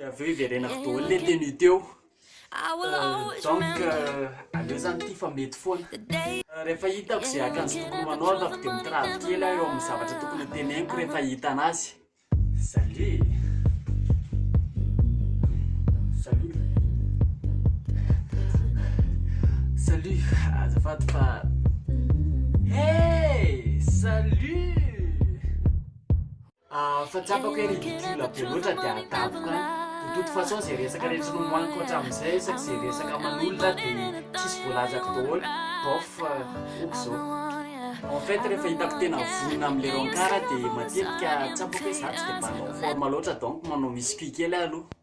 Dia avy eo hiverenako daholo ilay tenue teo. Donc, aleo izany ity fa mety foana. Rehefa hitako izay akanjo tokony ho anaovako dia mitravo kely aho eo amin'ny zavatra tokony ho teneniko rehefa hita an'azy. Salut! Salut! Salut! Azafady fa... Hey! Salut! Ah, fa tsapako hoe ridicule be loatra dia adavoko an! De toute façon zay resaka rehetra nomoahiko hatramin'izay isaky izay resaka aman'olona dia tsisy voalazako daholo, bof, ok izao. En fait rehefa hitako tena vonona amin'ilay rencard dia matetika tsapako hoe za tsy dia mpanao forme loatra donc manao muscu kely aho aloha.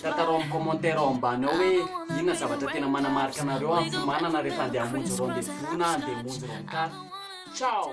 Tantarao amin'ny commentaire ao ambany ao hoe inona zavatra tena manamarika anareo amin'ny fiomanana rehefa andeha hamonjy rendez-vous na andeha hamonjy rencard. Ciao!